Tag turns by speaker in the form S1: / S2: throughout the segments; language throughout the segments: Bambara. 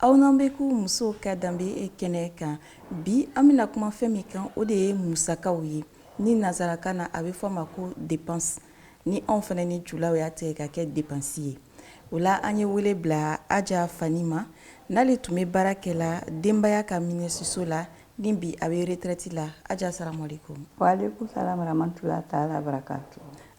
S1: Aw n'an bɛ ko musow ka danbe kɛnɛ kan bi an bɛna kuma fɛn min kan o de ye musakaw ye ni nansarakan na a bɛ fɔ a ma ko depansi ni anw fana ni julaw y'a tigɛ ka kɛ depansi ye o la an ye wele bila Aja Fani ma n'ale tun bɛ baara kɛ la denbaya ka minisiriso la ni bi a bɛ retrɛti la Aja asalamu alɛkum wa alɛkum
S2: salam ramatulayi taala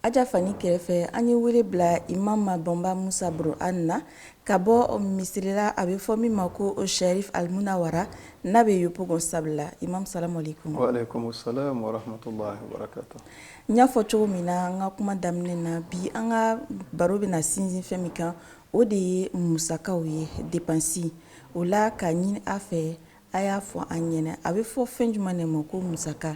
S2: Aja
S1: fani kɛrɛfɛ an ye wele bila imam Bɔnba Musa buro an na ka bɔ misiri la a bɛ fɔ min ma ko Sɛrifu Alimunawara n'a bɛ Yopugɔn Sabula imam salamu
S3: alɛkum n y'a fɔ
S1: cogo min na an ka kuma daminɛ na bi an ka baro bɛna sinsin fɛn min kan o de ye musakaw ye depansi o la ka ɲini a fɛ a y'a fɔ an ɲɛna a bɛ fɔ fɛn jumɛn de ma ko musaka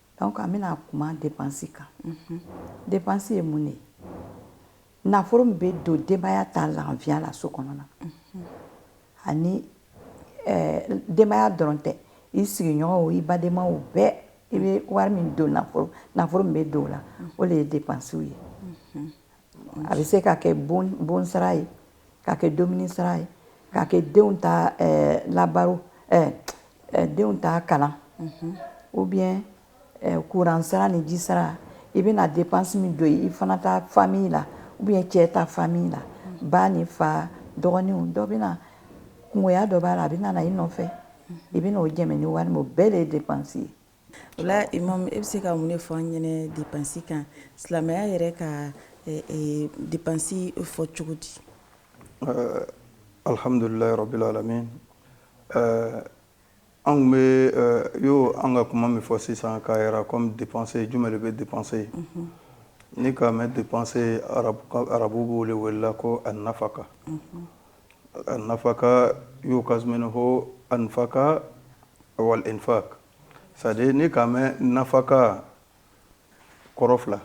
S2: Dɔnku an bɛna kuma depansi kan depansi ye mun de ye nafolo min bɛ don denbaya ta lafiya la so kɔnɔna ani denbaya dɔrɔn tɛ i sigiɲɔgɔnw i badenmaw bɛɛ i bɛ wari min don nafolo min bɛ don o la o de ye depansiw ye A bɛ se ka kɛ bon sara ye ka kɛ dumuni sara ye ka kɛ denw ta labaro denw ta kalan ou bien kuran sara ni ji sara i bɛna depansi min don i fana ta fami la ou bien cɛ ta fami la ba ni fa dɔgɔninw dɔ bɛ na kungoya dɔ b'a la a bɛna na i nɔfɛ i bɛn'o jɛmɛ ni wari min o bɛɛ de ye depansi ye O la
S1: imam e bɛ se ka mun de fɔ an ɲɛna depansi kan silamɛya yɛrɛ ka depansi fɔ cogo di
S3: alihamdulilayi rabil alamin anw bɛ yo an ka kuma min fɔ sisan k'a yira kɔmi depanse jumɛn de bɛ depanse ye ni k'a mɛn depanse arabu b'o de wele ko anafaka nafaka yukasu minhu anfaka wal infak c'est-à-dire ni k'a mɛn nafaka kɔrɔ fila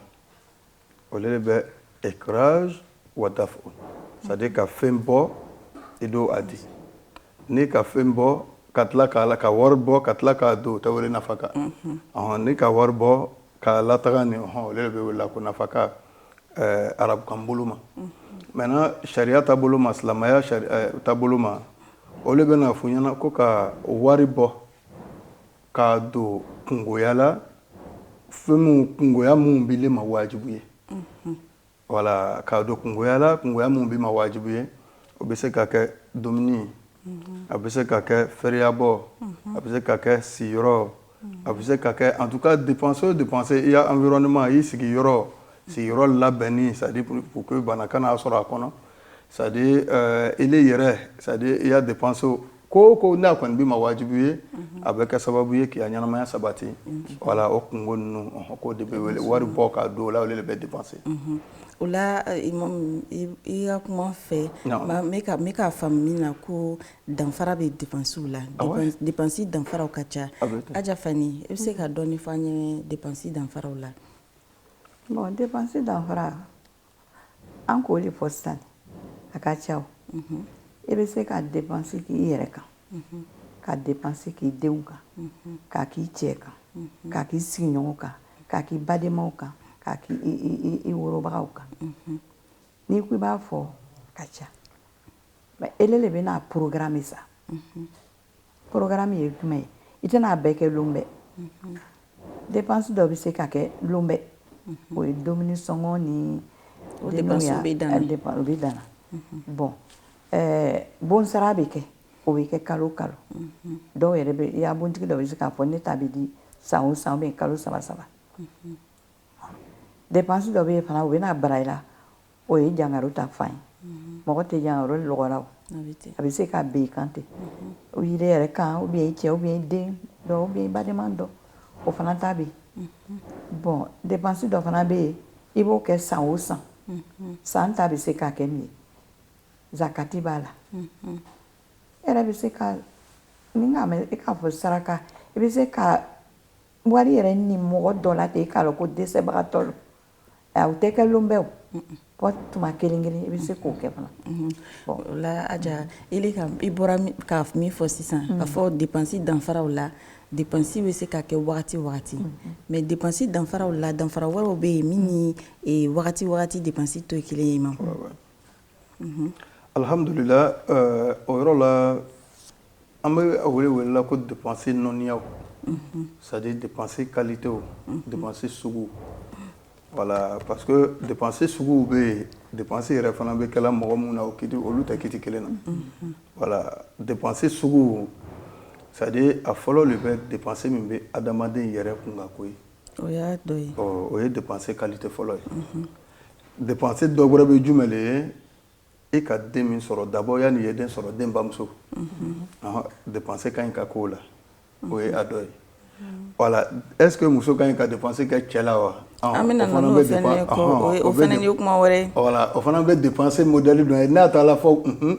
S3: o de bɛ ikraj wa daf'u c'est-à-dire ka fɛn bɔ i don a di ni ka fɛn bɔ ka tila ka wari bɔ ka tila k'a don o tɛ wele nafaka ni ka wari bɔ ka lataga ni o de bɛ wele la ko nafaka arabukan bolo ma mɛntɛnan sariya ta bolo ma silamɛya ta bolo ma o de bɛna fɔ i ɲɛna ko ka wari bɔ k'a don kungoya la fɛn kungoya min b'i le ma wajibi ye wala k'a don kungoya la kungoya min b'i ma wajibi ye o bɛ se ka kɛ dumuni a bɛ se ka kɛ fɛrɛyabɔ a bɛ se ka kɛ siyɔrɔ a bɛ se ka kɛ en tout cas dépense o dépense i ya environnement i sigiyɔrɔ sigiyɔrɔ labɛnni c'est-à-dire pour que bana kana sɔrɔ a kɔnɔ c'est-à-dire ile yɛrɛ c'est-à-dire i ya dépense o ko o ko n'a kɔni b'i ma wajibi ye a bɛ kɛ sababu ye k'i ya ɲɛnamaya sabati voilà o kunko ninnu ko de bɛ wele wari bɔ k'a don o la o de bɛ dépense o la
S1: i ka kuma fɛ n k'a faamu min na ko danfara bɛ dépensew la dépense danfaraw ka ca aja fani i bɛ se ka dɔɔni fɔ an ye dépense danfaraw la bon
S2: dépense danfara an k'o de fɔ sisan a ka ca i bɛ se ka dépense k'i yɛrɛ kan ka dépense k'i denw kan k'a k'i cɛ kan k'a k'i sigiɲɔgɔnw kan k'a k'i badenmaw kan k'a k'i worobagaw kan n'i ko i b'a fɔ a ka ca Mais e de bɛna a programmer sa programme ye jumɛn ye i tɛna a bɛɛ kɛ lon bɛɛ dépense dɔ bɛ se ka kɛ lon bɛɛ o ye dumuni sɔngɔ ni o
S1: de bɛ dan
S2: bon bon sara bɛ kɛ o bɛ kɛ kalo kalo dɔw yɛrɛ i ya bontigi dɔ bɛ se k'a fɔ ne ta bɛ di san o san ou bien kalo saba saba dépense dɔ bɛ yen fana o bɛna bara i la o ye jankaro ta fan ye mhm. mɔgɔ tɛ jankaro lɔgɔra a bɛ se ka ben i kan ten mhm. o i yɛrɛ yɛrɛ kan ou bien i cɛ ou bien i den dɔ ou bien i badenma dɔ o fana ta bɛ yen mhm. bon dépense dɔ fana bɛ yen i b'o kɛ san o san san ta bɛ se ka kɛ min ye zakati b'a la e yɛrɛ bɛ se ka ni n k'a mɛn e k'a fɔ saraka i bɛ se ka wari yɛrɛ ni mɔgɔ dɔ la ten k'a dɔn ko dɛsɛbagatɔ don o tɛ kɛ lon bɛɛ fɔ tuma kelen kelen i bɛ se k'o kɛ fana
S1: o la aja i bɔra ka min fɔ sisan k'a fɔ dépense danfaraw la dépense bɛ se ka kɛ wagati wagati mais dépense danfaraw la danfara wɛrɛw bɛ yen min ni wagati wagati dépense tɛ kelen ye imam
S3: Alihamdulila o yɔrɔ la an bɛ wele wele ko depsi nɔya sa depsi kalite depsi sugu wala parce depsi sugu bɛ yen depsi yɛrɛ fana bɛ kɛ mɔgɔ min na o ki olu tɛ ki kelen na wala depsi sugu sa a fɔlɔ de bɛ depsi min bɛ adamaden yɛrɛ kun ka koyi o y'a dɔ ye
S1: o ye dépense
S3: qualité fɔlɔ ye dépense dɔ wɛrɛ bɛ jumɛn de ye e ka den min sɔrɔ d'abord yanni i ye den sɔrɔ den bamuso dépense ka ɲi ka k'o la o ye a dɔ ye voilà est ce que muso ka ɲi ka dépense kɛ cɛ la wa an bɛna na n'o fana
S1: ye o fana ye kuma wɛrɛ ye voilà o fana bɛ dépense
S3: modèle dɔ ye n'a taara fɔ unhun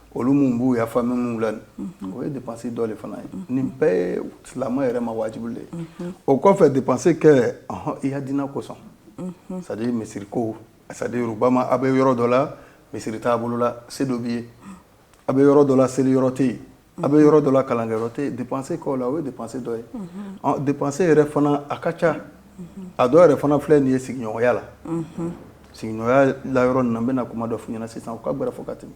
S3: olu minnu b'u ya famille minnu la o ye dépense dɔ de fana ye nin bɛɛ ye silamɛ yɛrɛ ma wajibi de ye o kɔfɛ dépense kɛ i ya diina kosɔn c'est-à-dire misiri ko saba ma a bɛ yɔrɔ dɔ la misiri t'a bolo la se dɔ b'i ye a bɛ yɔrɔ dɔ la seli yɔrɔ tɛ yen a bɛ yɔrɔ dɔ la kalankɛ yɔrɔ tɛ yen dépense k'o la o ye dépense dɔ ye dépense yɛrɛ fana a ka ca a dɔw yɛrɛ fana filɛ nin ye sigiɲɔgɔnya la sigiɲɔgɔnya la yɔrɔ nin na n bɛna kuma dɔ f'i ɲɛna sisan u ka gɛrɛ fɔ ka tɛmɛ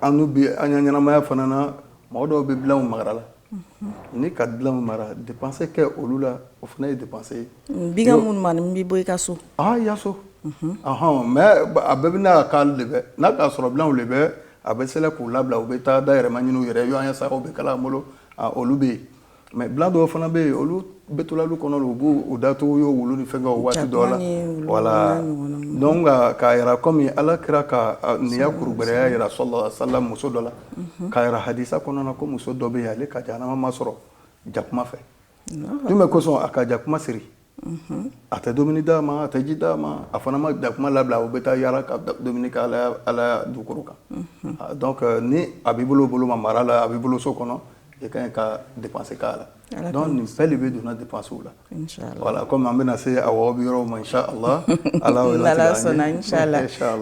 S3: annu bi an ka ɲɛnamaya fana na mɔgɔ dɔw bɛ bilaw mara la ni ka bilaw mara dépense kɛ olu la o fana ye dépense ye bi minnu
S1: bɛ bɔ i ka so i ya
S3: so hɔn mais a bɛɛ bɛ ka de n'a y'a sɔrɔ bilaw de bɛ a bɛ se k'u labila u bɛ taa dayirimɛ ɲini u yɛrɛ ɲɔgɔn ye sagaw bɛ kala bolo olu bɛ yen mais bila dɔw fana bɛ yen olu bɛ to la lu kɔnɔ u b'u datugu yo wulu ni fɛnkɛw waati dɔ la voilà donc k'a yira kɔmi ala kira ka nin ya kurugbɛrɛya yira sallallahu alaihi wasallam muso dɔ la k'a yira hadisa kɔnɔna ko muso dɔ bɛ yen ale ka jahanama ma sɔrɔ jakuma fɛ mun de kosɔn a ka jakuma siri a tɛ dumuni d'a ma a tɛ ji d'a ma a fana ma jakuma labila u bɛ taa yaala ka dumuni kɛ ala dugukolo kan donc ni a b'i bolo bolo ma mara la a b'i bolo so kɔnɔ i ka ɲi ka dépense k'a la donc nin bɛɛ de bɛ donna dépensew la voilà kɔmi an bɛna se a bɛ yɔrɔ ma
S1: ala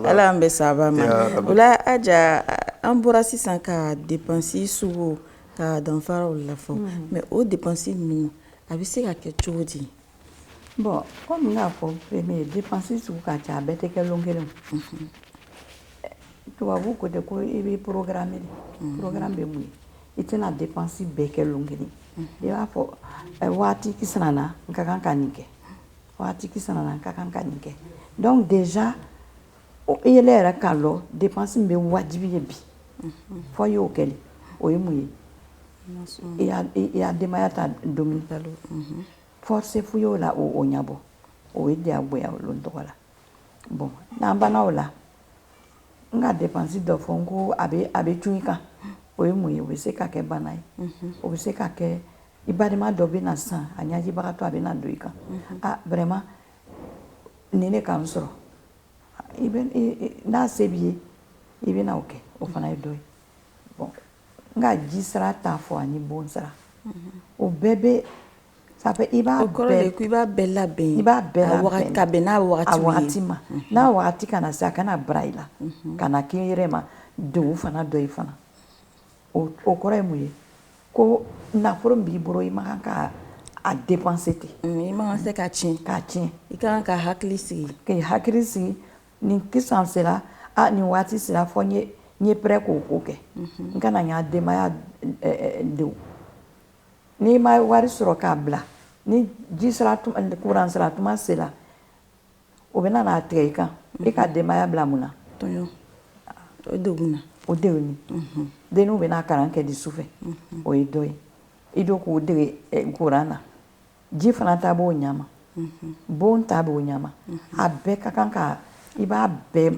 S1: ala an bɛ saba ma o la Aja an bɔra sisan ka dépense sugu ka danfaraw la fɔ mais o dépense ninnu A bɛ se ka kɛ cogo di bɔn
S2: kɔmi y'a fɔ de pansi sigi ka ca a bɛɛ tɛ kɛ kelen tubabubu ko tɛ ko i bɛ porokkara minɛ pkra bɛ mun i tɛna de pansi bɛɛ kɛ kelen i b'a fɔ waati na ka kan ka nin kɛ waati ka kan ka nin kɛ dɛsɛc ile yɛrɛ k'a lɔn dépense min be wajibi ye bi unhun fo i y'o kɛ le o ye mun ye i ya i ya denbaya ta domuni balo unhun force f'u y'o la o o ɲabɔ o ye diyagoya o lon tɔgɔ la bon n'an banna o la n ka dépense dɔ fɔ n ko a be a be cun i kan o ye mun ye o be se ka kɛ bana ye unhun o be se ka kɛ i balima dɔ bena sisan a ɲajibagatɔ a bena don i kan a vraiment nin de ka n sɔrɔ n'a se b'i ye i bɛna o kɛ o fana ye dɔ ye bon n ka ji sara t'a fɔ ani bon sara o bɛɛ bɛ ça fait i b'a bɛɛ
S1: labɛn i b'a
S2: bɛɛ labɛn ka bɛn
S1: n'a waati ma n'a waati
S2: kana na se a kana bara i la kana k'i yɛrɛ ma don fana dɔ i fana o kɔrɔ ye mun ye ko nafolo min b'i bolo i man kan k'a dépenser ten i ma se k'a tiɲɛ
S1: k'a tiɲɛ i ka kan ka hakili sigi k'i hakili sigi
S2: ni kisan sera ni waati sera fɔ n ye prêt k'o ko kɛ n kana ya denbaya degun n'i ma wari sɔrɔ k'a bila ni ji sara kuran sara tuma sera o bɛna n'a tigɛ i kan i ka denbaya bila mun na
S1: tɔɔrɔ degun na o
S2: degun denninw bɛna kalan kɛ di su fɛ o ye dɔ ye i don k'u dege kuran na ji fana ta b'o ɲama bon ta b'o ɲama a bɛɛ ka kan ka i b'a bɛɛ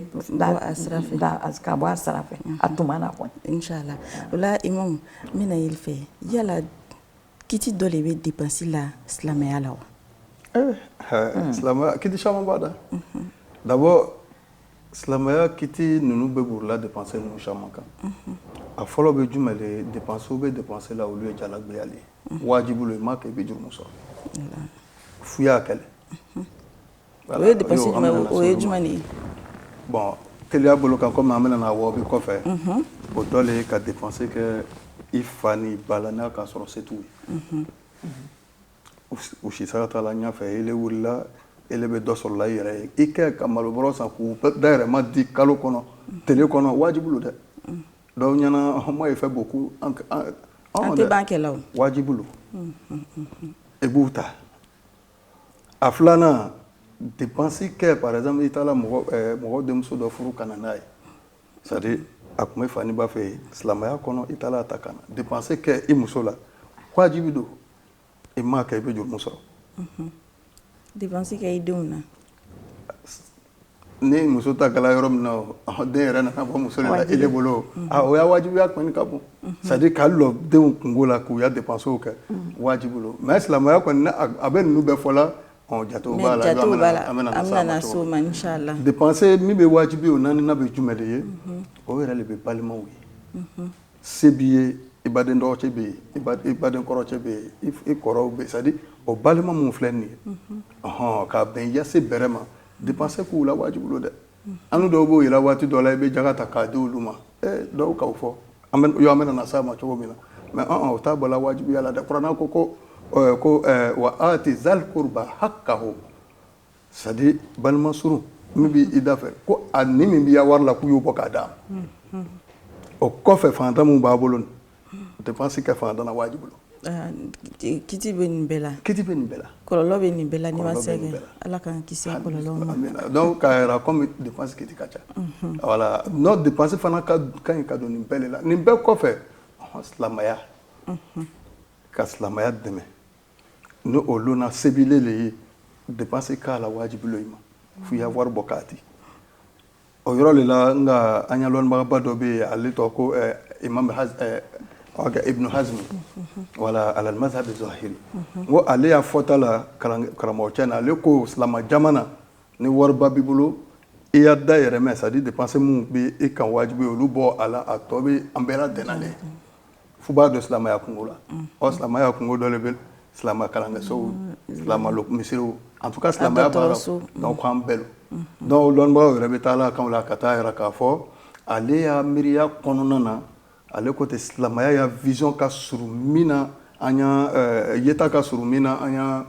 S2: ka bɔ a sira fɛ a tuma na kɔni inshallah o la
S1: imamu n bɛna yɛlɛ fɛ yala Kiti dɔ de bɛ dépense la silamɛya la
S3: wa silamɛya kiti caman b'a la d'abord silamɛya kiti ninnu bɛ borila dépense ninnu caman kan a fɔlɔ bɛ jumɛn de dépensew bɛ dépense la olu ye jagboya le ye wajibi lo i m'a kɛ i bɛ jurumu sɔrɔ fo i y'a kɛ le
S1: O ye dépense o ye jumɛn de ye
S3: bon teliya bolo kan kɔmi an bɛna na wabi kɔfɛ o dɔ le ye ka dépense kɛ i fa ni ba la n'a k'a sɔrɔ se t'u ye u si san taara ɲɛfɛ e wulila e bɛ dɔ sɔrɔla i yɛrɛ ye i kɛ ka malobɔrɔ san k'u dayirimɛ di kalo kɔnɔ tile kɔnɔ wajibi lo dɛ dɔw ɲɛna hama ye fɛ bɔ ko tɛ
S1: b'akɛlaw wajibi
S3: lo i b'u ta a filanan dépense kɛ par exemple i taara mɔgɔ denmuso dɔ furu ka na n'a ye c'est à dire a tun bɛ fa ni ba fɛ yen silamɛya kɔnɔ i taara a ta ka na dépense kɛ i muso la wajibi don i m'a kɛ i bɛ jurumu sɔrɔ
S1: dépense kɛ i denw na
S3: ni muso ta kɛla yɔrɔ min na den yɛrɛ nana bɔ muso le la e bolo o ya wajibiya kɔni ka bon c'est à dire ka lɔ denw kunko la k'u ya dépensew kɛ wajibi lo mais silamɛya kɔni a bɛ ninnu bɛɛ fɔ la jatew b'a la dépense
S1: min bɛ
S3: wajibi o naaninan bɛ jumɛn de ye o yɛrɛ de bɛ balimaw ye Se b'i ye i baden dɔgɔcɛ bɛ yen i ba i baden kɔrɔcɛ bɛ yen i f i kɔrɔw bɛ yen c'est à dire o balima mun filɛ nin ye unhun ɔnhɔn ka bɛn i ya se bɛrɛ ma dépense k'u la wajibu lo dɛ unhun annu dɔw b'o yela waati dɔ la i bɛ jaga ta k'a di olu ma ee dɔw k'aw fɔ an bɛn yo an bɛna na s'a ma cogo min na mais ɔn-ɔn o t'a bɔla wajibiya la dɛ kurana ko ko ɔɔɛ ko ɛɛ wa aati zal kurba hakkahu c'est à dire balima surun min bɛ i da fɛ ko a ni min b'i ya wari la k'u y'o bɔ k'a d'a ma o kɔfɛ faantan min b'a bolo nin dépense kɛ faantan na wajibi lo ah, kiti
S1: bɛ nin bɛɛ la kiti bɛ nin bɛɛ la kɔlɔlɔ bɛ nin bɛɛ la n'i ma s'a kɛ ala k'an kisi ah, kɔlɔlɔ ma ah, donc k'a yira
S3: comme dépense kiti ka ca mhm. voilà n'o dépense fana ka ka ɲi ka don nin bɛɛ de la nin bɛɛ kɔfɛ silamɛya mhm. ka silamɛya dɛmɛ ni o lon na se b'ile le ye dépense k'a la wajibi lo i ma f'i ya wari bɔ k'a di o yɔrɔ de la nka an ya lɔnnibagaba dɔ bɛ yen ale tɔgɔ ko eh, imam eh, ibnu hazmi wala alal mazhab zahiri n ko ale ya fɔta la karamɔgɔ cɛ na ale ko silama jamana ni wariba b'i bolo i ya dayirimɛ c'est à dire dépense minnu bɛ i kan wajibi olu bɔ a la a tɔ bɛ an bɛɛ la dɛnna le f'u b'a don silamɛya kunko la ɔ silamɛya kunko dɔ le bɛ silamɛ kalankɛsow mm, mm. silamɛ misiriw en tout cas silamɛya b'a la mm. donc an bɛɛ lo donc lɔnnibagaw yɛrɛ bɛ taa la kan la ka t'a yira k'a fɔ ale ya miiriya kɔnɔna na ale ko tɛ silamɛya ya vision ka surun min na an ya euh, yeta ka surun min na an ya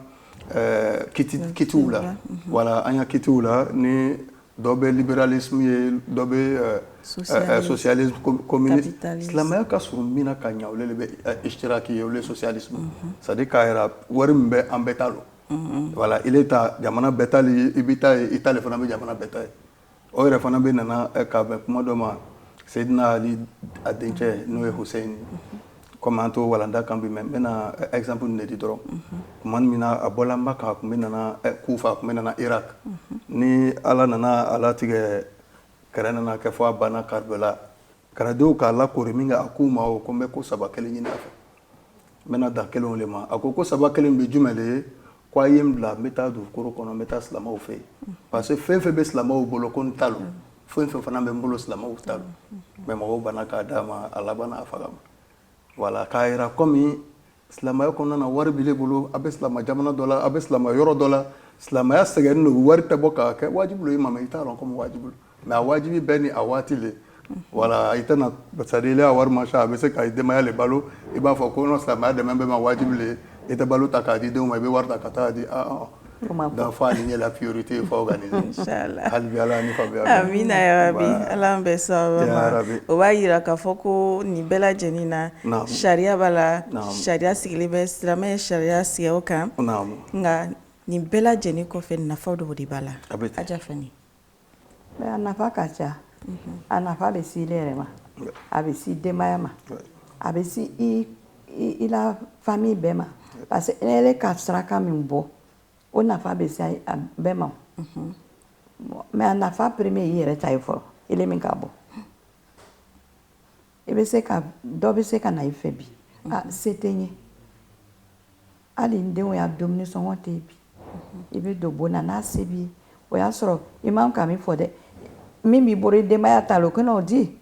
S3: euh, kiti kitiw la mm-hmm. voilà an ya kitiw la ni dɔ bɛ libéralisme ye dɔ bɛ socialisme communisme silamɛya ka surun min na ka ɲɛ ole le bɛ ishtiraki ye ole socialisme c'est à dire k'a yira wari min bɛ an bɛɛ ta lo voilà ile ta jamana bɛɛ ta le b'i ta ye i ta le fana bɛ jamana bɛɛ ta ye o yɛrɛ fana bɛ nana ka bɛn kuma dɔ ma seyidina ali a dencɛ n'o ye huseyini Comme an t'o walanda kan bi mais n bɛna exemple de di dɔrɔn tuma min na a bɔla maka a tun bɛ nana kufa a tun bɛ nana irak ni ala nana a latigɛ kɛrɛ nana kɛ fɔ a banna karbala kɛrɛdenw k'a lakoori minkɛ a k'u ma o ko n bɛ ko saba kelen ɲini a fɛ n bɛna dan kelen le ma a ko ko saba kelen bɛ jumɛn le ye K'a ye n bila n bɛ taa dugukolo kɔnɔ n bɛ taa silamɛw fɛ yen parce que fɛn fɛn bɛ silamɛw bolo ko n ta lo fɛn fɛn fana bɛ n bolo silamɛw ta lo mais mɔgɔw banna k'a d'a ma a labanna a faga ma voilà k'a yira comme silamɛya kɔnɔna na wari b'ile bolo a bɛ silamɛ jamana dɔ la a bɛ silamɛ yɔrɔ dɔ la silamɛya sɛgɛnnen don wari tɛ bɔ k'a kɛ wajibi lo i ma mais i t'a lɔn comme wajibi mais a wajibi bɛɛ ni a waati le voilà i tɛna c'est à dire ile ya wari man ca a bɛ se ka denbaya le balo i b'a fɔ ko non silamɛya dɛmɛ bɛ ma wajibi le i tɛ balo ta k'a di denw ma i bɛ wari ta ka taa di donc faut aligner la priorité faut organiser hali ala
S1: ni fa
S3: amiina yarabi
S1: ala bɛ saba o b'a yira k'a fɔ ko nin bɛɛ lajɛlen na sariya b'a la sariya sigilen bɛ silamɛ ye sariya sigi o kan nka nin bɛɛ lajɛlen kɔfɛ nafa dɔw de b'a la a bɛ a
S2: A nafa ka ca a nafa bɛ se ile yɛrɛ ma a bɛ se denbaya ma a bɛ se i la famille bɛɛ ma parce que ele ka saraka min bɔ o nafa bɛ se bɛɛ ma mais a nafa premier i yɛrɛ ta ye fɔlɔ ile min k'a bɔ i bɛ se ka dɔ bɛ se ka na i fɛ bi a se tɛ n ye hali n denw ya dumuni sɔngɔ tɛ yen bi i bɛ don bon na n'a se b'i ye o y'a sɔrɔ i man ka min fɔ dɛ min b'i bolo i denbaya ta lo kana o di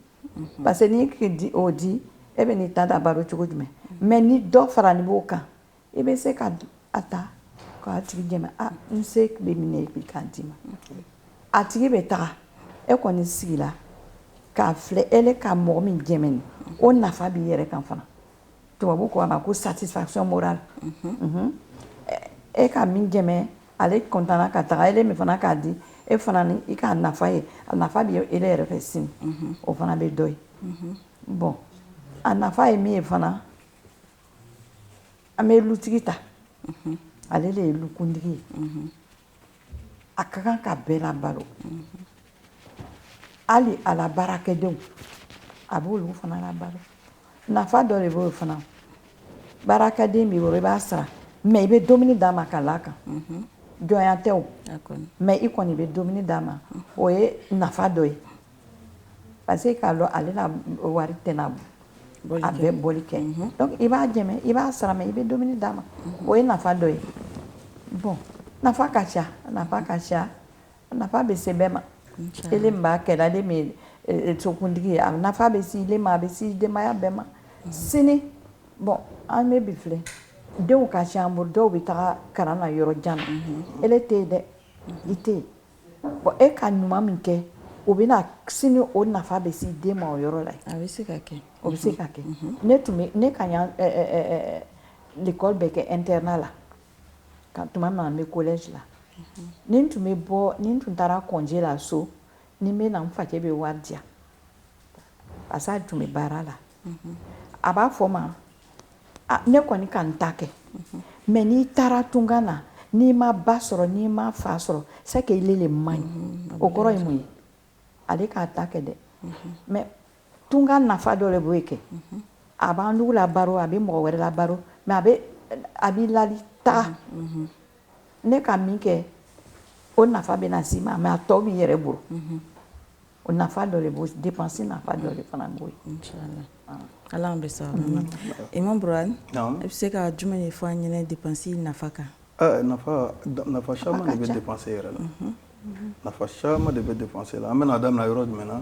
S2: parce que n'i ka o di e bɛ n'i ta labalo cogo jumɛn mais ni dɔ faranin b'o kan i bɛ se ka a ta k'a tigi dɛmɛ n se bɛ min na i k'a d'i ma a tigi bɛ taga e kɔni sigila k'a filɛ ele ka mɔgɔ min dɛmɛ nin o nafa b'i yɛrɛ kan fana tubabu ko a ma ko satisfaction morale e ka min dɛmɛ ale kɔntan ka taga ele min fana k'a di e fana i ka nafa ye a nafa bɛ ele yɛrɛ fɛ sini o fana bɛ dɔ ye bon a nafa ye min ye fana An bɛ lutigi ta ale de ye lukuntigi ye a ka kan ka bɛɛ labalo hali ala baara kɛdenw a b' fana balo nafa dɔ de b'o fana baarakɛden b'i bolo i b'a sara mais i bɛ dumuni d'a ma ka l'a kan jɔnya tɛ o mais i kɔni i bɛ dumuni d'a ma o ye nafa dɔ ye Parce que k'a dɔn ale la wari tɛna a bɛɛ bɔli kɛ i b'a dɛmɛ i b'a sara mais i bɛ dumuni d'a ma o ye nafa dɔ ye bon nafa ka ca nafa ka ca nafa bɛ se bɛɛ ma ele min b'a kɛla ale min ye sokuntigi ye a nafa bɛ se ile ma a bɛ se denbaya bɛɛ ma sini bon an bɛ bi filɛ denw ka ca an bolo dɔw bɛ taa kalan na yɔrɔ jan na ele tɛ yen dɛ i tɛ yen Bon e ka ɲuman min kɛ o bɛna sini o nafa bɛ se den ma o yɔrɔ la a bɛ se ka kɛ
S1: o bɛ se ka kɛ
S2: ne tun bɛ ne ka l'école bɛɛ kɛ internat la ka tuma min na n bɛ collège la ni n tun bɛ bɔ ni n tun taara congé la so ni n bɛ na n facɛ bɛ wari di yan parce que a tun bɛ baara la a b'a fɔ n ma ne kɔni ka n ta kɛ mais n'i taara tunga na n'i ma ba sɔrɔ n'i ma fa sɔrɔ c'est que ile le man ɲi o kɔrɔ ye mun ye ale k'a ta kɛ dɛ mais tunga nafa dɔ de b'o kɛ a b'an dugu labalo a bɛ mɔgɔ wɛrɛ labalo mais a b'i lali taa ne ka min kɛ o nafa bɛ na s'i ma mais a tɔ b'i yɛrɛ bolo O nafa dɔ de b'o dépense nafa dɔ de fana b'o ye
S1: inchallah Ala y'an bɛɛ sɔn o ma Imam Burhan naamu i bɛ se ka jumɛn de fɔ an ɲɛna dépense nafa kan ɛ nafa
S3: nafa caman de bɛ dépense yɛrɛ la nafa caman de bɛ dépense la an bɛna a daminɛ yɔrɔ jumɛn na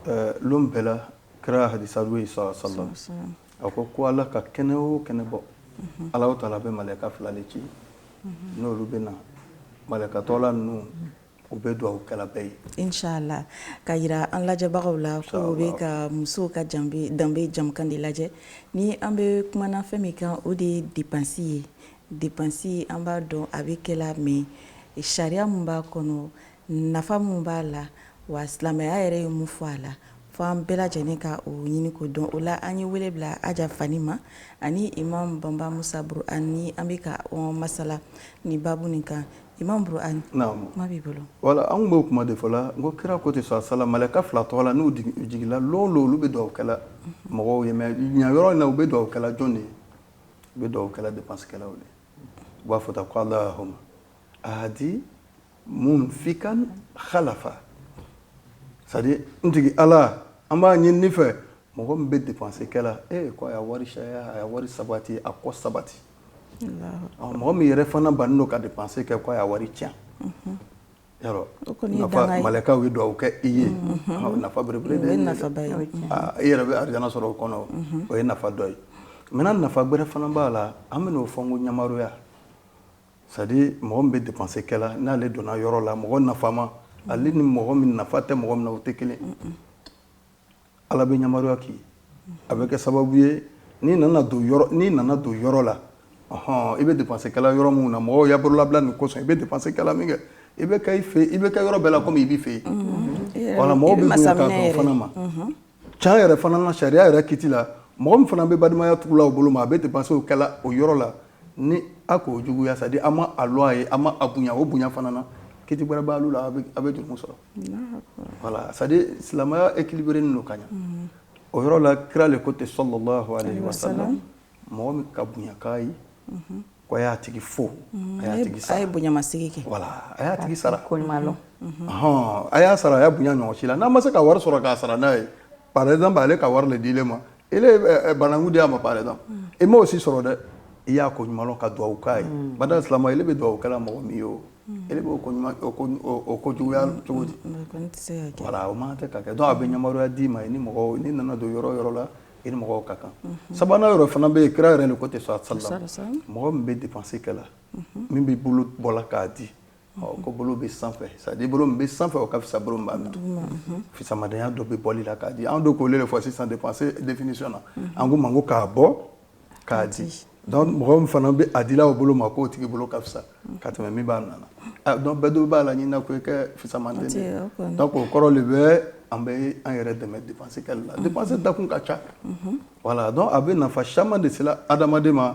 S3: ɛ lon bɛɛ la kira hadisa dɔ ye sallallahu a ko ko Ala ka kɛnɛ o kɛnɛ bɔ Alahu taala bɛ malɛka fila le ci n'olu bɛ na malɛka tɔgɔla ninnu U bɛ dugawu kɛla bɛɛ ye inchallah
S1: k'a jira an lajɛbagaw la ko u bɛ ka musow ka danbe jɛmukan de lajɛ ni an bɛ kumana fɛn min kan o de ye dépense ye dépense an b'a dɔn a bɛ kɛla mais sariya min b'a kɔnɔ nafa min b'a la wa silamɛya yɛrɛ ye mun fɔ a la fo an bɛɛ lajɛlen ka o ɲini k'o dɔn o la an ye wele bila Aja Fani ma ani Imam Bamba Musa Burhan an bɛ ka masala nin babu nin kan Imam Burhan kuma b'i bolo voilà an b'o kuma
S3: de fɔla n ko kira ko ten sala malɛka fila tɔgɔla n'u jigila lon o lon olu bɛ dugawu kɛla mɔgɔw ye mais ɲa yɔrɔ in na u bɛ dugawu kɛla jɔn de ye u bɛ dugawu kɛla dépensekɛlaw de u b'a fɔ tan ko Allahumma aati munfikan khalafa c'est-à-dire n tigi Ala an b'a ɲinina i fɛ mɔgɔ min bɛ dépense kɛla ee ko a y'a wari caya a y'a wari sabati a kɔ sabati mɔgɔ min yɛrɛ fana bannen don ka dépense kɛ ko a y'a wari tiɲɛ malɛkaw ye dugawu kɛ i ye nafa belebele de ye i yɛrɛ bɛ arijana sɔrɔ o kɔnɔ o ye nafa dɔ ye maintenant nafa gbɛrɛ fana b'a la an bɛ min fɔ ko ɲamaroya c'est-à-dire mɔgɔ min bɛ dépense kɛla n'ale donna yɔrɔ la mɔgɔ nafama ale ni mɔgɔ min nafa tɛ mɔgɔ min na o tɛ kelen Ala bɛ ɲamaroya kɛ a bɛ kɛ sababu ye n'i nana don n'i nana don yɔrɔ la hɔn i bɛ dépense kɛla yɔrɔ min na mɔgɔw y'a bololabila nin kɔsɔn i bɛ dépense kɛla min kɛ i bɛ fɛ i bɛ kɛ yɔrɔ bɛɛ la kɔmi i b'i fɛ yen voilà mɔgɔ bɛ masa fana ma can yɛrɛ fana na sariya yɛrɛ kiti la mɔgɔ min fana bɛ balimaya tugula o bolo ma a bɛ dépense o kɛla o yɔrɔ la ni a k'o juguya c'est-à-dire a ma a lɔn i ye a ma a bonya o bonya fana na kiti wɛrɛ b'ale la a bɛ jurumu sɔrɔ Wala sa silamɛya e kibri don ka ɲɛ o yɔrɔ la kira de ko tɛ so sa mɔgɔ min ka bonyayanka ye ko y'a tigi fo a tigi sa ye bonyamasigi kɛ
S1: wala a y'a tigi sara
S3: ko hɔn
S2: a y'a sɔrɔ a ye
S3: bonyayan ɲɔgɔn si la n'a ma se ka wari sɔrɔ k'a sara n'a ye par exemple ale ka wari le di ele ma ele ye eh, eh, bananku di a ma par exemple mm. i m'o si sɔrɔ dɛ i y'a ko ɲuman lɔn ka duwawu k'a ye mm. bada silama ele bɛ duwawu kɛla mɔgɔ min ye o mm. ele b'o ko ɲuman o ko juguya cogo di voilà o man tɛ ka kɛ donc a bɛ ɲamaroya d'i ma i ni mɔgɔw n'i nana don yɔrɔ yɔrɔ la i ni mɔgɔw ka kan mm-hmm. sabanan yɔrɔ fana bɛ yen kira yɛrɛ le ko ten sallallahu alayhi wa sallam mɔgɔ min bɛ dépense kɛla mm-hmm. min b'i bolo bɔla k'a di ko bolo bɛ sanfɛ c'est-à-dire bolo bɛ sanfɛ o ka fisa bolo min b'a minɛ fisamadenya dɔ bɛ bɔli la k'a di an don k'olu de fɔ sisan dépenser définition na an ko ma ko k'a bɔ k'a di mɔgɔ min fana bɛ a dila o bolo ma k'o tigi bolo ka fisa ka tɛmɛ min b'a minɛna donc bɛɛ dɔw b'a la ɲinina ko i kɛ fisamanden de donc o kɔrɔ de bɛ an bɛ an yɛrɛ dɛmɛ dépenser kɛli la dépenser dakun ka ca voilà donc a bɛ nafa caman de sela adamadenya ma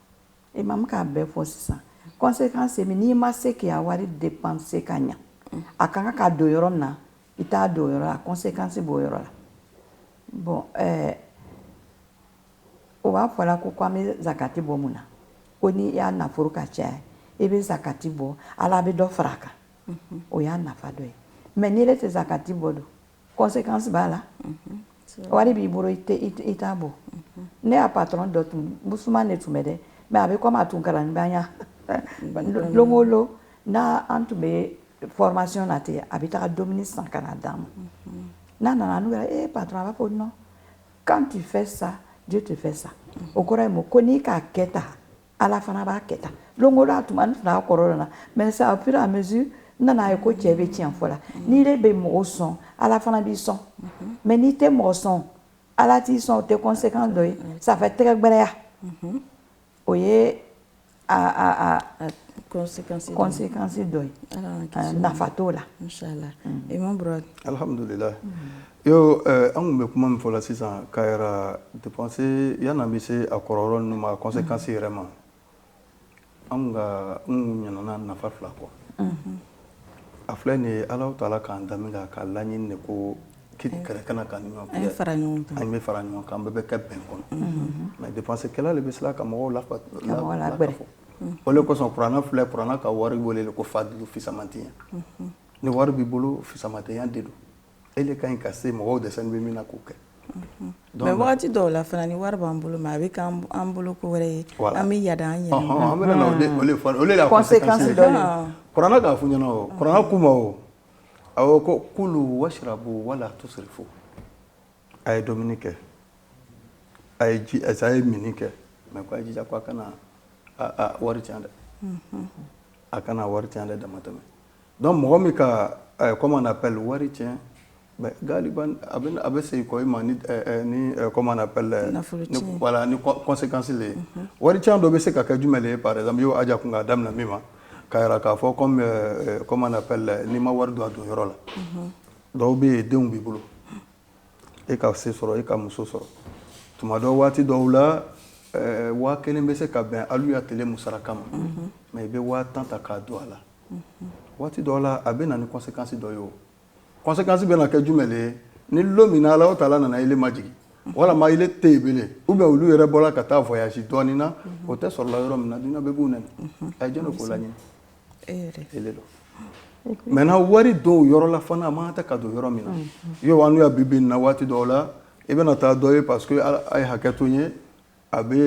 S2: Imamu k'a bɛɛ fɔ sisan conséquence ye n'i ma se k'i ya wari dépenser ka ɲa a ka kan ka don yɔrɔ min na i t'a don o yɔrɔ la conséquence b'o yɔrɔ la bɔn ɛɛ o b'a fɔla ko ko an bɛ zakati bɔ mun na ko n'i ya nafolo ka caya i bɛ zakati bɔ ala bɛ dɔ fara a kan o y'a nafa dɔ ye mais n'i yɛrɛ tɛ zakati bɔ donc conséquence b'a la wari b'i bolo i t'a bɔ ne ya patron dɔ tun musoman de tun bɛ dɛ mais a bɛ comme a tun kalanibaya don o don n' an tun bɛ formation na ten a bɛ taa dumuni san ka na d'an ma n'a nana n'u e patron a b'a fɔ non quand tu fais ça Dieu te fait ça o kɔrɔ ye mun ko n'i k'a kɛ tan ala fana b'a kɛ tan don o don a tuma n tɛna a kɔrɔ lɔnna mais c'est au fur et à mesure n nana a ye ko cɛ bɛ tiɲɛ fɔ la n'ile bɛ mɔgɔ sɔn ala fana b'i sɔn mais n'i tɛ mɔgɔ sɔn ala t'i sɔn o tɛ conséquence dɔ ye ça fait tɛgɛ gbɛrɛya o ye conséquence dɔ ye nafa t'o la imam
S1: alihamdulila
S3: Yo an kun bɛ kuma min fɔla sisan k'a yira dépenser yanni an bɛ se a kɔrɔ ma conséquence yɛrɛ ma an kun ɲinana nafa fila kɔ a filɛ nin Ala Taala k'an dan k'a laɲini de ko kɛlɛ kana k'an ni ɲɔgɔn cɛ an bɛ fara ɲɔgɔn kan an bɛɛ bɛ kɛ bɛn kɔnɔ mais dépenser kɛli de bɛ se ka mɔgɔw la o de kosɔn kuranɛ filɛ kuranɛ ka wari weele ko fadulu fisamantiya ni wari b'i bolo fisamantiya de don e de ka ɲi ka se mɔgɔw dɛsɛnin bɛ min na k'o kɛ
S1: mais waati dɔw la fana ni wari b'an bolo mais a bɛ k'an bolo ko wɛrɛ ye an bɛ yaada an yɛrɛ
S3: kuranɛ k'a fɔ ɲɛna o kuranɛ kuma o a ko kulu wasirabu wala tusirifu a ye dumuni kɛ a ye ji a ye mini kɛ mais ko a jija ko a kana wari tiɲɛ dɛ a kana wari tiɲɛ dɛ damatɛmɛ Donc mɔgɔ min ka comment on appelle wari tiɲɛ a bɛ sekɔ i ma ni comment on appelle ni conséquence le ye wari tiɲɛ dɔ bɛ se ka kɛ jumɛn ye par exemple aja kun k'a daminɛ min ma k'a jira k'a fɔ comment on appelle n'i ma wari don a don yɔrɔ la dɔw bɛ yen denw b'i bolo e ka se sɔrɔ e ka muso sɔrɔ tuma dɔ waati dɔw la waa kelen bɛ se ka bɛn alu ya tile musaraka ma mais i bɛ waa tan ta k'a don a la waati dɔw la a bɛ na ni conséquence dɔ ye o conséquence bɛna kɛ jumɛn ye ni lon min na Alahu taala nana ile majigin walima ile tɛ yen bilen ou bien olu yɛrɛ bɔra ka taa voyage dɔɔnin na o tɛ sɔrɔla yɔrɔ min na dunuya bɛɛ b'u nɛni a ye jɔn ko la dɔn maintenant wari don yɔrɔ la fana a man kan tɛ ka don yɔrɔ min na yo an y'a bi bi in na waati dɔw la i bɛna taa dɔ ye parce que a ye hakɛ to n ye a bɛ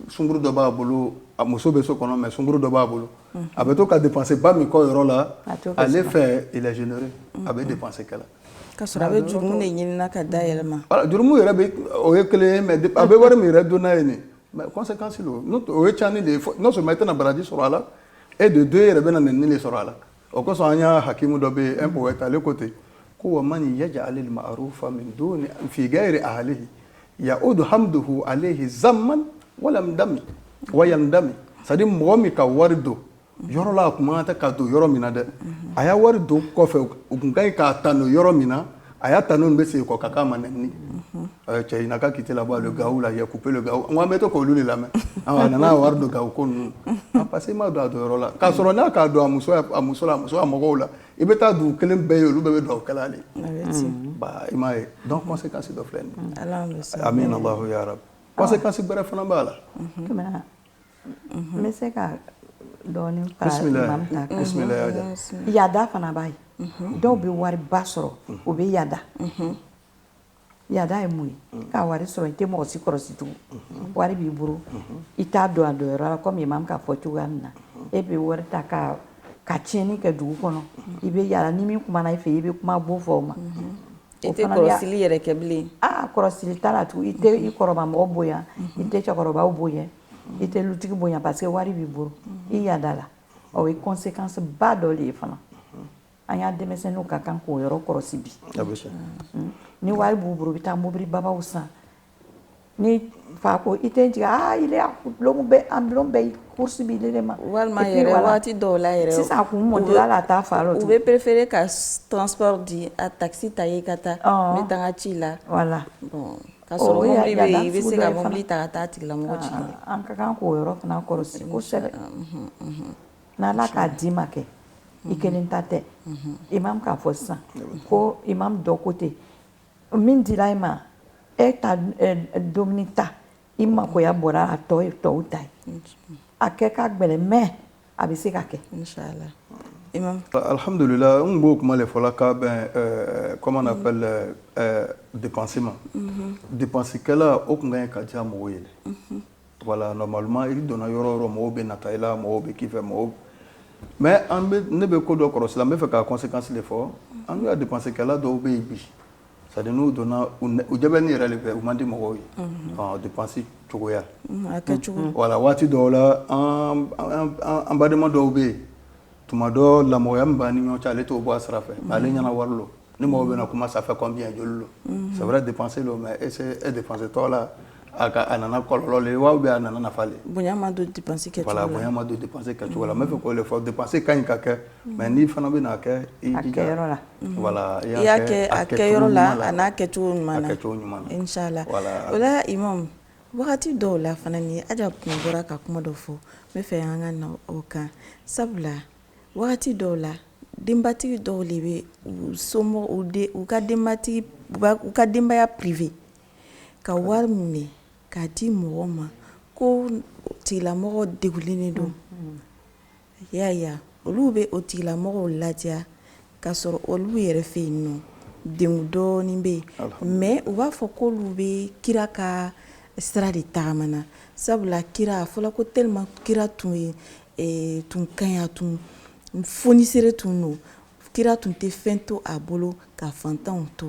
S3: sunkuru dɔ b'a bolo a muso bɛ so kɔnɔ mais sunkuru dɔ b'a bolo a bɛ to ka dépense ba min kɔ yɔrɔ la ale fɛ il est généreux a bɛ dépense kɛla ka sɔrɔ a bɛ
S1: jurumu de ɲini ka da a yɛrɛ ma jurumu
S3: yɛrɛ bɛ o ye kelen ye mais a bɛ wari min yɛrɛ don n'a ye nin mais conséquence lo o ye caani de ye non seulement i tɛna baraji sɔrɔ a la et de deux i yɛrɛ bɛna nɛni de sɔrɔ a la o kosɔn an y'a hakimu dɔ bɛ yen un poète ale ko ten ko wa man yaj'al al-ma'rufa min duni fi ghayri ahlihi ya'udu hamduhu alayhi zamman walam dami wa yandami c'est à dire mɔgɔ min ka wari don yɔrɔ la a kun man kan tɛ ka don yɔrɔ min na dɛ a y'a wari don kɔfɛ u kun ka ɲi k'a tanu yɔrɔ min na a y'a tanu nu bɛ segin kɔ ka k'a ma nɛni cɛ ɲina ka kite la bɔ le gawu la j'ai coupé le gawu n ko an bɛ to k'olu de lamɛn a nana wari don gawu ko ninnu parce que i m'a don a don yɔrɔ la k'a sɔrɔ n'a k'a don a muso la a muso a mɔgɔw la i bɛ taa dugu kelen bɛɛ ye olu bɛɛ bɛ duga kɛla ale ba i m'a ye donc conséquence dɔ filɛ nin ye amina Allahu ya rabi conséquence gbɛrɛ fana b'a la
S2: n bɛ se ka dɔɔnin fara imam ta kan yaada fana b'a ye dɔw bɛ wari ba sɔrɔ u bɛ yaada yaada ye mun ye ka wari sɔrɔ i tɛ mɔgɔ si kɔrɔsi tugun wari b'i bolo i t'a don a don yɔrɔ la kɔmi imam k'a fɔ cogoya min na e bɛ wari ta ka tiɲɛni kɛ dugu kɔnɔ i bɛ yaada ni min kumana i fɛ i bɛ kuma gbo fɔ o ma I
S1: tɛ kɔlɔsili yɛrɛ kɛ bilen aa kɔlɔsili t'a
S2: la tugun i tɛ i kɔrɔbamɔgɔ bonya i tɛ cɛkɔrɔbaw bonya i tɛ lutigi bonya parce que wari b'i bolo i yadala o ye conséquence ba dɔ de ye fana an y'a denmisɛnninw ka kan k'o yɔrɔ kɔlɔsi bi ni wari b'u bolo u bɛ taa mobili babaw san Ni fa ko i tɛ n jigin ile a bulon bɛɛ course b'ile de ma walima
S1: waati dɔw la yɛrɛ sisan a kun mɔ la
S2: t'a fa la u bɛ préférer ka
S1: transport di a taxi ta ka taa n ka ci la voilà ka sɔrɔ mobili bɛ yen i bɛ se ka mobili ta ka taa tigilamɔgɔ ci an ka kan k' o
S2: yɔrɔ fana kɔlɔsi kosɛbɛ n'Ala k'a d'i ma kɛ i kelen ta tɛ imam k'a fɔ sisan ko imam dɔ ko ten min dira e ma e ta dumuni ta i magoya bɔra a la tɔ ye tɔw ta ye a kɛ ka gɛlɛn mais a bɛ se ka kɛ
S3: alihamdulila n b'o kuma de fɔla k'a bɛn comment on appelle dépense ma dépense kɛla o kun ka ɲi ka diya mɔgɔw ye Voilà normalement i donna yɔrɔ o yɔrɔ mɔgɔw bɛ nata i la mɔgɔw bɛ k'i fɛ mɔgɔw mais ne bɛ ko dɔ kɔlɔsi la n bɛ fɛ k'a conséquence de fɔ an ka dépense kɛla dɔw bɛ yen bi c'est-à-dire n'u donna u jɛ bɛ ne yɛrɛ de fɛ u man di mɔgɔw ye dépense
S1: cogoya voilà waati dɔw la
S3: an badenma dɔw bɛ yen tuma dɔ la mɔgɔya min b'an ni ɲɔgɔn cɛ ale t'o bɔ a sira fɛ mm. ale ɲɛna wari lo ni mɔgɔ bɛna kuma ça fait combien joli lo mm. c'est vrai dépenser lo mais est ce dépenser tɔgɔ la a ka a nana kɔlɔlɔ le wa ou bien a nana nafa le bonya ma don dépenser
S1: kɛcogo la voilà bonya ma don
S3: dépenser kɛcogo la n bɛ fɛ k'o le fɔ dépenser ka ɲi ka kɛ mm. mais n'i fana bɛna kɛ i jija a kɛ yɔrɔ la voilà i y'a kɛ a
S1: kɛ yɔrɔ la a n'a kɛcogo ɲuman na a kɛcogo ɲuman na inchallah voilà o la imam Wagati dɔw la fana ni Aja tun bɔra ka kuma dɔ fɔ n bɛ fɛ an ka na o kan sabula wagati dɔw la denbatigi dɔw de bɛ u somɔgɔw u de u ka denbatigi u ka denbaya priver ka wari minɛ k'a di mɔgɔ ma k'o tigilamɔgɔ degunnen de don Y'a ya olu bɛ o tigilamɔgɔw ladiya k'a sɔrɔ olu yɛrɛ fɛ yen nɔ degun dɔɔnin bɛ yen mais u b'a fɔ ko olu bɛ kira ka sira de taama na sabula kira a fɔla ko tellement kira tun ye tun kaya tun fonisere tun don kira tun tɛ fɛn to a bolo ka fantanw to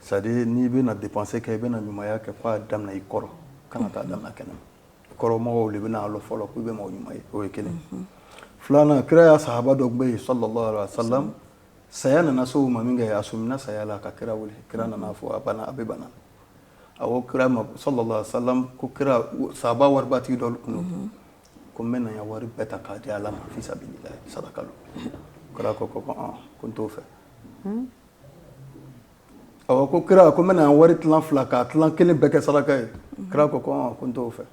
S3: C'est-à-dire n'i bɛna dépenser kɛ i bɛna ɲumanya kɛ k'a daminɛ i kɔrɔ kana taa daminɛ kɛnɛma kɔrɔmɔgɔw de bɛna a lɔn fɔlɔ k'i bɛ maa ɲuman ye o ye kelen filanan kira ya sahaba dɔ bɛ yen sallallahu alaihi wa sallam saya nana se a ma min kɛ a sɔmina saya la ka kira wele kira nana fɔ a banna a bɛ bana a ko kira ma sallallahu alaihi wa sallam ko kira sahaba waribatigi dɔ tun don ko n bɛna n ka wari bɛɛ ta k'a di ala ma fi sabilillah saraka kira ko ko ko n t'o fɛ Awa ko kira ko n bɛna wari tilan fila ka tilan kelen bɛɛ kɛ saraka ye kira ko ko n t'o fɛ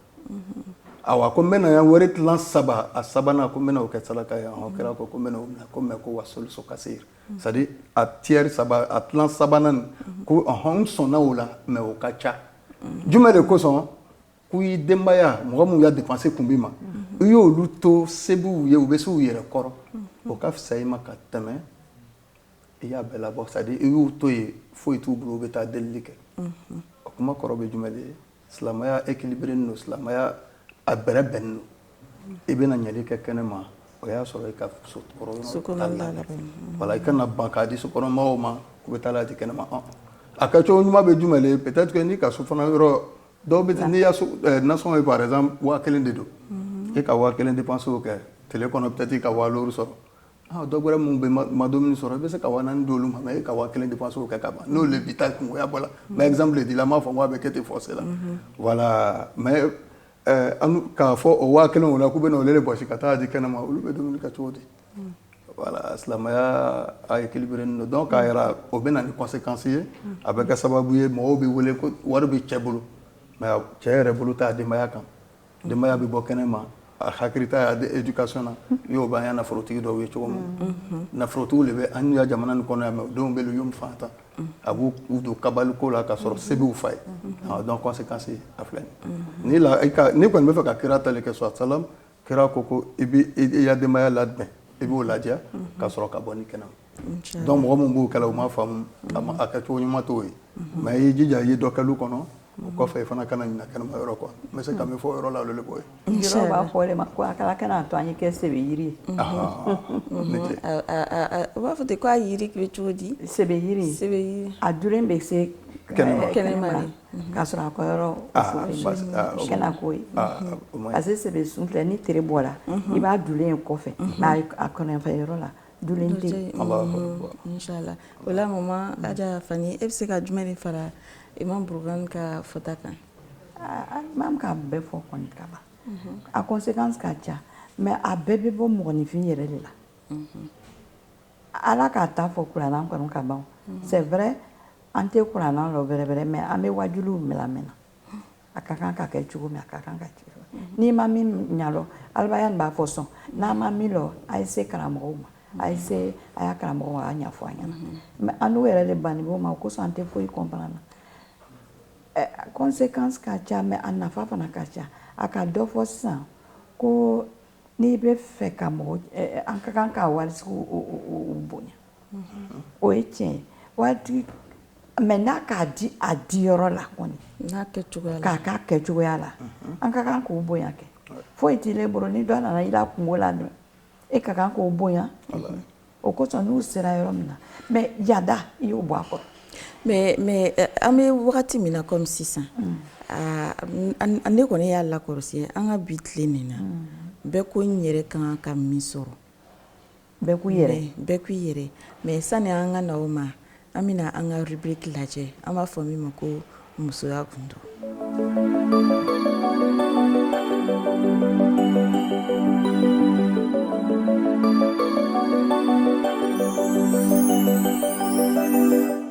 S3: awa ko n bɛna wari tilan saba a sabanan ko n bɛna o kɛ saraka ye kira ko mais ko wasulusu kasir c'est-à-dire a tiers a tilan sabanan ko n sɔnna o la mais o ka ca jumɛn de kosɔn k'i ya denbaya mɔgɔ minnu ka dépense kun b'i ma i y'olu to se b'u ye u bɛ se u yɛrɛ kɔrɔ o ka fisa i ma ka tɛmɛ i y'a bɛɛ labɔ c'est à dire i y'u to yen foyi t'u bolo u bɛ taa delili kɛ o kuma kɔrɔ bɛ jumɛn de ye silamɛya équilibrénen don silamɛya a bɛrɛ bɛnnen don i bɛna nili kɛ kɛnɛma o y'a sɔrɔ i ka so kɔnɔna labɛnnen don voilà i kana ban k'a di sokɔnɔmɔgɔw ma k'u bɛ taa n'a ye ten kɛnɛma a kɛcogo ɲuman bɛ jumɛn de ye peut être que n'i ka so fana yɔrɔ dɔw bɛ n'i y'a so eh, nasɔngɔ ye par exemple waa kelen de don e ka waa kelen dépense kɛ tile kɔnɔ peut être i ka waa loru sɔrɔ Dɔw wɛrɛ minnu bɛ ma dumuni min sɔrɔ i bɛ se ka waa naani di olu ma e ka waa kelen dépense kɛ ka ban n'o de b'i ta kungo ɲabɔ la mais exemple le di la n m'a fɔ ko a bɛ kɛ ten forcé la voilà mais k'a fɔ o waa kelen kɔnɔ k'u bɛ olu de bɔsi ka taa di kɛnɛ ma olu bɛ dumuni kɛ cogo di voilà silamɛya a équilibré don donc a yɛrɛ o bɛ na ni conséquence ye a bɛ kɛ sababu ye mɔgɔw bɛ wele ko wari bɛ cɛ bolo mais cɛ yɛrɛ bolo t'a denbaya kan Denbaya bɛ bɔ kɛnɛ ma a hakili t'a éducation na iyo i b'an ya nafolotigi dɔw ye cogo min nafolotigiw de bɛ an ya jamana nin kɔnɔ yan mais denw bɛ yomi faantan a b'u k'u don kabaliko la ka sɔrɔ se b'u fa ye donc conséquence a filɛ nin n'i kɔni bɛ fɛ ka kira ta le kɛ salallahu alayhi wasalam kira ko ko i bɛ i ya denbaya labɛn i b'o ladiya ka sɔrɔ ka bɔ ni kɛnɛ Donc mɔgɔ minw b'o kɛ la u ma faamu a kɛ cogo ɲuman t'o ye mais i y'i jija i ye dɔ kɛ lu kɔnɔ o kɔfɛ i fana kana ɲina kɛnɛma yɔrɔ kɔ n bɛ se ka min fɔ yɔrɔ la b'a fɔ de ma ko
S2: a kana to an ye kɛ sebe yiri
S1: ye u b'a fɔ k'a yiri bɛ cogo di sebe
S2: yiri a dulen bɛ se kɛnɛma k'a sɔrɔ a kɔ yɔrɔ parce que sebe sun filɛ ni tere bɔla i b'a dulen ye kɔfɛ mais a kɔnɔfɛ yɔrɔ la
S1: ola ma e bɛ se ka jumɛn de fara i ma ka fata kan an
S2: ka bɛɛ fɔ ka ban a ko se ka ca mɛ a bɛɛ bɛ bɔ mɔgɔninfin yɛrɛ de la ala k'a taa fɔ kuran kɔnɔ ka ban sɛ wɛrɛɛrɛ an tɛ kuran wɛrɛɛrɛ mɛ an bɛ waju minɛ na A ka kan ka kɛ cogo min a ka kan ka kɛ n'i ma min ɲalɔn aliya b'a fɔ sɔn n'a ma min lɔn a ye se karamɔgɔ ma a ye se a ya karamɔgɔ ma a b'a ɲɛfɔ a ɲɛna mais annu yɛrɛ de bannen b'o ma o kosɔn an tɛ foyi comprendre na conséquence ka ca mais a nafa fana ka ca a ka dɔ fɔ sisan ko N'i bɛ fɛ ka mɔgɔ an ka kan ka waritigiw bonya o ye tiɲɛ waati mais n'a k'a di a di yɔrɔ la kɔni k'a kɛ a kɛ cogoya la an ka kan k'o bonya kɛ foyi t'ile bolo ni dɔ nana i la kungo la dun e ka kan k'o bonya o kosɔn n'u sera yɔrɔ min na mɛ yada i y'o bɔ a kɔrɔ
S1: mɛ eh, an bɛ wagati min na kɔmi sisan mm. ah, ne kɔni y'a lakɔrɔsi an ka bi tile nin na mm. bɛɛ ko n yɛrɛ ka kan ka min sɔrɔ
S2: bɛɛ k'u yɛrɛ mɛ sani an ka
S1: na o ma An bɛna an ka rubrique lajɛ an b'a fɔ min ma ko musoya
S4: gundo.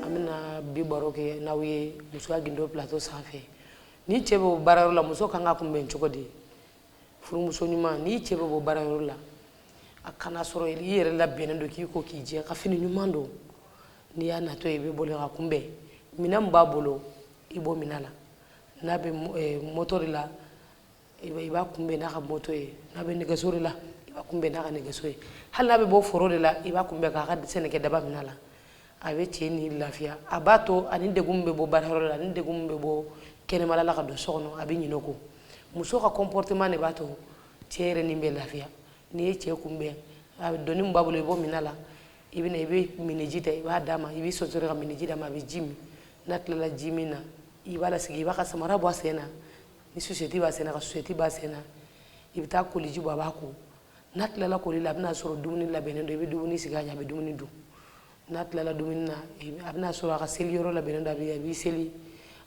S4: An bɛna bi baro kɛ n'aw ye musoya gundo plateau sanfɛ ni cɛ bɛ bɔ baarayɔrɔ la muso ka kan k'a kunbɛn cogo di? furumuso ɲuman n'i cɛ bɛ bɔ baarayɔrɔ la a ka n'a sɔrɔ i yɛrɛ labɛnnen don k'i ko k'i jɛ ka fini ɲuman don n'i y'a natɔ ye i bɛ boli k'a kunbɛn minɛn min b'a bolo i b'o minɛ a la n'a bɛ eh, moto de la i b'a kunbɛn n'a ka moto ye n'a bɛ nɛgɛso de la i b'a kunbɛn n'a ka nɛgɛso ye hali n'a bɛ bɔ foro de la i b'a kunbɛn k'a ka sɛnɛkɛ daba minɛ a la a bɛ cɛ ni lafiya a b'a to a ni degun bɛ bɔ baarayɔrɔ la a ni degun bɛ bɔ kɛnɛma la ka don so kɔnɔ a bɛ ɲinɛ o kɔ muso ka comportement de b'a to cɛ yɛrɛ ni bɛ lafiya n'i ye cɛ kunbɛn a bɛ doni min b'a bolo i b'o minɛ a la i bɛ i bɛ miniji ta i b'a d'a ma i bɛ sonsoro ka miniji d'a ma a bɛ ji min n'a tilala ji min na i b'a lasigi i b'a ka samara bɔ a sen na ni susɛti b'a sen na ka susɛti b'a sen na i bɛ taa koliji bɔ a b'a ko n'a tilala koli la a bɛna sɔrɔ dumuni labɛnnen don i bɛ dumuni sigi a ɲɛ a bɛ dumuni dun n'a tilala dumuni na a bɛna sɔrɔ a ka seliyɔrɔ labɛnnen don a bɛ a b'i seli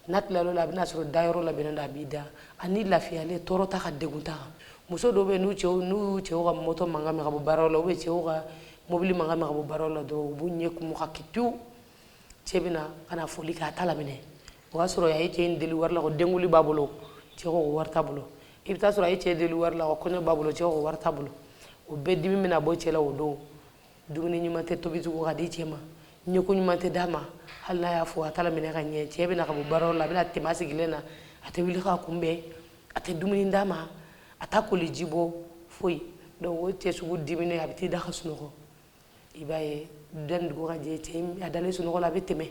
S4: n'a tilala la a bɛna sɔrɔ dayɔrɔ labɛnnen don a b'i da a ni lafiyalen tɔɔrɔ t'a kan degun t'a kan muso dɔw bɛ yen n'u cɛw ka moto mankan mɛn ka bɔ baaraw la u bɛ cɛw ka mobili mankan mɛn ka bɔ baaraw la dɔrɔn u b'u ɲɛ kumu ka kɛ pewu cɛ bɛna ka na foli kɛ a t'a laminɛ o y'a sɔrɔ a ye cɛ in deli wari la ko denkunli b'a bolo cɛ ko wari t'a bolo i bɛ t'a sɔrɔ a ye cɛ deli wari la ko kɔɲɔ b'a bolo cɛ ko wari t'a bolo o bɛɛ dimi bɛna bɔ cɛ la o don dumuni ɲuman tɛ tobi tugun ka di cɛ ma ɲɛko ɲuman tɛ d'a ma hali n'a y'a fo a t'a laminɛ ka ɲɛ cɛ bɛna ka bɔ baarayɔrɔ la a bɛna tɛmɛ a sigilen na a tɛ wuli k'a kunbɛn a tɛ dumuni d'a ma a t'a koliji bɔ foyi donc o cɛ sugu diminen a bɛ t'i da ka sunɔgɔ i b'a ye yanni dugu ka jɛ cɛ a dalen sunɔgɔ la a bɛ tɛmɛ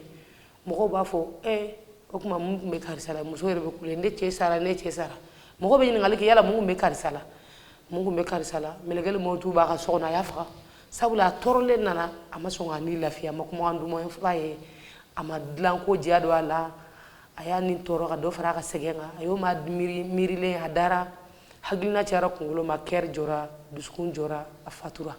S4: mɔgɔw b'a fɔ e o tuma mun tun bɛ karisa la muso yɛrɛ bɛ kule ne cɛ sara ne cɛ sara mɔgɔw bɛ ɲininkali kɛ yala mun bɛ karisa la mun tun bɛ karisa la mɛlɛkɛli mawutu b'a ka so kɔnɔ a y'a faga sabula a tɔɔrɔlen nana a ma sɔn k'a ni lafiya a ma kuma duman f'a ye a ma dilanko diya don a la a y'a ni tɔɔrɔ ka dɔ fara a ka sɛgɛn kan a y'o ma miiri miirilen a dara hakilina cayara kunkolo ma cœur jɔra dusukun jɔra a fatura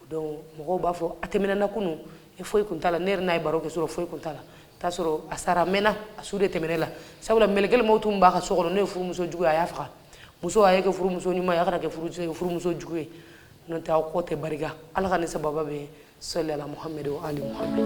S4: donc mɔgɔw b'a fɔ a tɛmɛna kunun e foyi tun t'a la ne yɛrɛ n'a ye baro kɛ sɔrɔ foyi tun t'a la t'a sɔrɔ a sara mɛnna a su de tɛmɛnɛ la sabula mɛlɛkɛli mawtu min b'a ka so kɔnɔ n'o ye furumuso jugu ye a y'a faga muso a ye kɛ furumuso ɲuman ye a kana kɛ furumuso jugu ye n'o tɛ aw kɔ tɛ barika ala ka ni sababa bɛ salli ala Muhammad wa ali
S1: Muhammad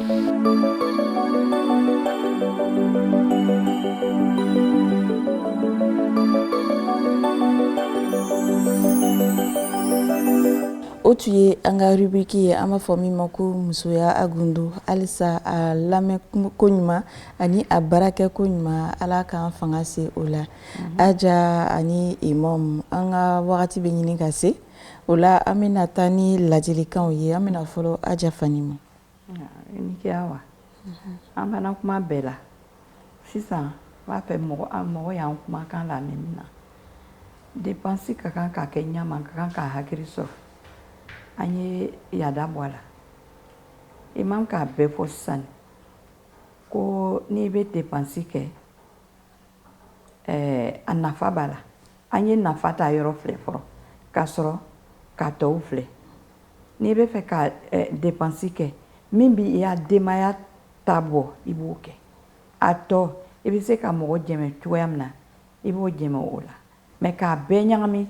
S1: o tun ye an ka rubriki ye an b'a fɔ min ma ko musoya a gundo halisa a lamɛn koɲuman ani a baara kɛ koɲuman ala k'an fanga se o la mhm. aja ani imam an ka wagati bɛ ɲini ka se O la an bɛna taa ni laadilikanw ye an bɛna fɔlɔ aja Fani ma
S2: i ni ce Awa an fana kuma bɛɛ la sisan b'a fɛ mɔgɔ y'an kumakan lamɛn min na depansi ka kan ka kɛ ɲa ma ka kan ka hakili sɔrɔ an ye yada bɔ a la imam k'a bɛɛ fɔ sisan ko n'i bɛ depansi kɛ ɛɛ a nafa b'a la an ye nafa ta yɔrɔ filɛ fɔlɔ ka sɔrɔ ka tɔw filɛ n'i bɛ fɛ ka depansi kɛ min bɛ i ya denbaya ta bɔ i b'o kɛ a tɔ i bɛ se ka mɔgɔ jɛmɛ cogoya min na i b'o jɛmɛ o la mɛ k'a bɛɛ ɲagami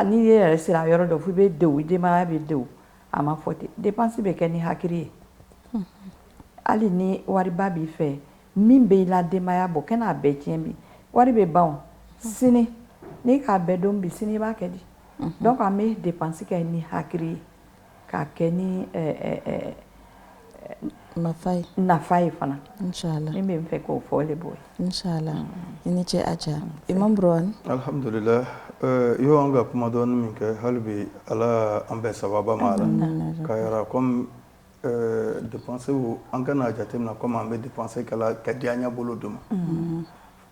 S2: n'i yɛrɛ sera yɔrɔ dɔ fo i bɛ dewun i denbaya bɛ dewun a ma fɔ ten depansi bɛ kɛ ni hakili ye hali ni wariba b'i fɛ Min bɛ i la denbaya bɔ kan'a bɛɛ tiɲɛ bi wari bɛ ban sini n'i k'a bɛɛ dun bi sini i b'a kɛ di donc an bɛ depansi kɛ ni hakili ye k'a kɛ ni nafa ye fana min bɛ n
S1: fɛ k'o
S2: fɔ le b'o ye
S1: i ni ce aja imam Burhan alihamdulila
S3: i y'an ka kuma dɔɔni min kɛ hali bi ala an bɛɛ sababa ma ala ka Ɛɛ depansi an kan'a jateminɛ kɔmi an bɛ depansi kɛ ka di an ɲɛ bolo dɔ ma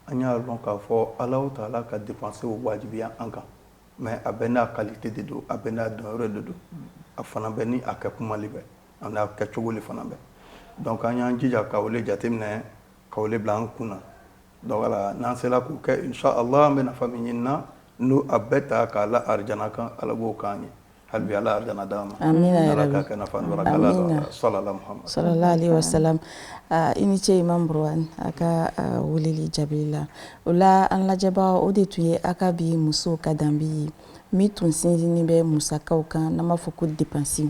S3: an y'a dɔn k'a fɔ ala ta'ala ka depansi wajibiya an kan mɛ a bɛɛ n'a kalite de don a bɛɛ n'a donyɔrɔ de don a fana bɛ ni a kɛtuma bɛ a n'a kɛcogo de fana bɛ dɔnku an y'an jija k'o jateminɛ k'o bila an kun na n'an sera k'o kɛ inshallah an bɛ nafa min ɲini na n'o a bɛɛ ta k'a la arijana kan ala b'o k'an ye hali bi ala arijana
S1: d'an
S3: ma ala kana sallallahu alaihi
S1: wasallam i ni ce imam Burhan a ka wele jaabi la o la an lajɛbagaw o de tun ye aw ka bi muso ka danbe ye min tun sinsinnen bɛ musakaw kan n'an b'a fɔ ko depansiw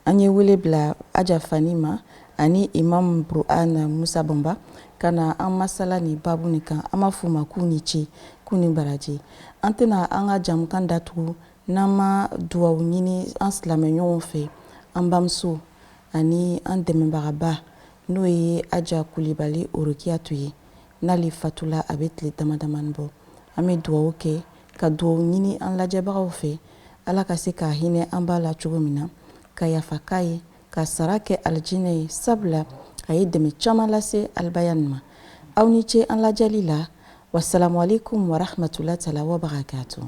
S1: an ye wele bila aja Fani ma ani imam Burhan Musa Banba ka na an masala ni baabu nin kan an b'a f'u ma k'u ni ce k'u ni baraji an tɛna an ka jɛmukan datugu n'an ma duwawu ɲini an silamɛɲɔgɔnw fɛ an bamuso ani an dɛmɛbagaba n'o ye aja kulibali orokiyatu ye n'ale fatula a bɛ tile dama damani bɔ an bɛ duwawu kɛ ka duwawu ɲini an lajɛbagaw fɛ ala ka se ka hinɛ an ba la cogo min na ka yafa k'a ye k'a sara kɛ alijinɛ ye sabula a ye dɛmɛ caman lase alibayani ma aw ni ce an lajɛli la wasalamu aleykum warahmatulahi taala
S3: wabarakatuhu